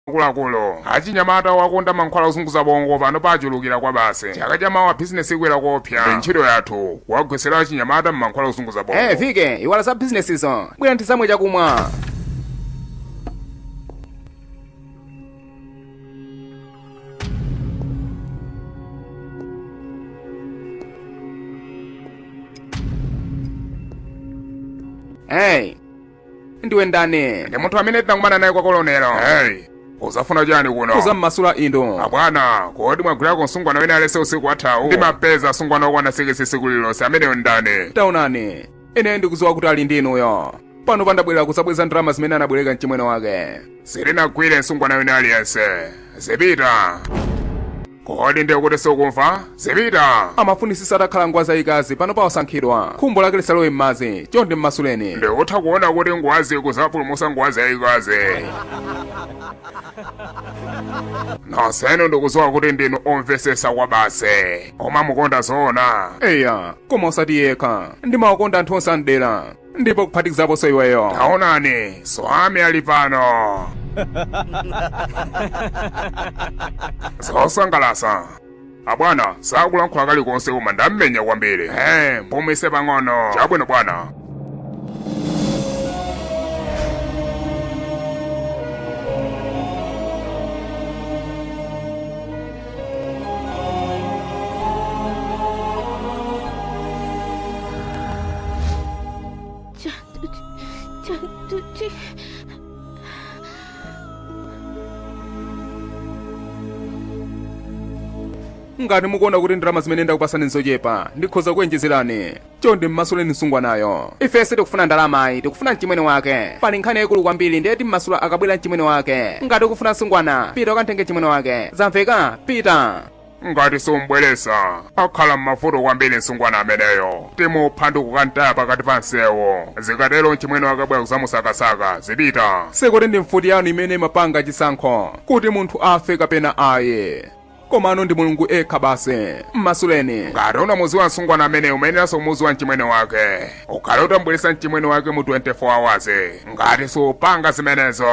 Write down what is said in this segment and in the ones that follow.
akuluakulu achinyamata wakonda mankhwala ozunguza bongo pano pachulukira kwabasi chaka cha mawa bizinesi ikwera koopsa ndi ntchito yathu kuwagwetsera achinyamata mmankhwala ozunguza bongo Eh, vike iwala za bizinesizo bwera ntizamwe chakumwa Hey, ndiwe ndani ndi munthu amene tinakumana naye kwa kolonelo hey uzafuna chani kuno uzammasula inu abwana kodi mwagwirako msungwana wina aliyense usiku wathawu ndimapeza asungwana okwana sikisi siku lilonse ameneyo ndani taonani ine ndikuziwa kuti ali ndi inuyo pano pandabwera kusabweza ndalama zimene anabwereka mchimwene wake sitinagwire msungwana wina aliyense zipita kodi ndiye kuti sukumva zipita amafunisisa atakhala ngwazi yayikazi pano pa osankhidwa khumbo lake lisalowe m'madzi chonde mmasuleni ndikutha kuona kuti ngwazi kuzapulumusa ngwazi yayikazi nonsenu ndikuziwa kuti ndinu omvesesa kwabasi koma umamukonda zoona eya koma osati yekha ndimawakonda anthu onse amdera ndipo kuphatikizaponso iweyo taonani swami ali pano zosangalasa abwana sakulankhula kalikonse koma ndammenya kwambiri he mpumise pang'ono chabwino bwana ngati mukuona kuti ndalama zimene ndakupasani nzochepa ndikhoza kuonjezerani chonde mmasuleni msungwanayo ife sitikufuna ndalama ayi tikufuna mchimwene wake pali nkhani yayikulu kwambiri ndiye timmasula akabwera mchimwene wake ngati ukufuna msungwana pita ukamtenge mchimwene wake zamveka pita ngati sumbweresa akhala m'mavuto kwambiri msungwana ameneyo timupha ndi kukamtaya pakati pa msewu zikatero mchimwene wake abwera kuzamusakasaka zipita sikuti ndi mfuti yanu imene imapanga chisankho kuti munthu afe kapena ayi komano ndi mulungu yekha basi mmasuleni ngati unamuziwa msungwana ameneyo umayeneranso kumuziwa mchimwene wake ukhale utambweresa mchimwene wake mu 24 hours ngati supanga zimenezo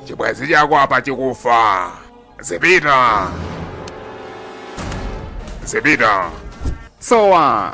chibwenzi chako apa chikufa zipita zipita sowa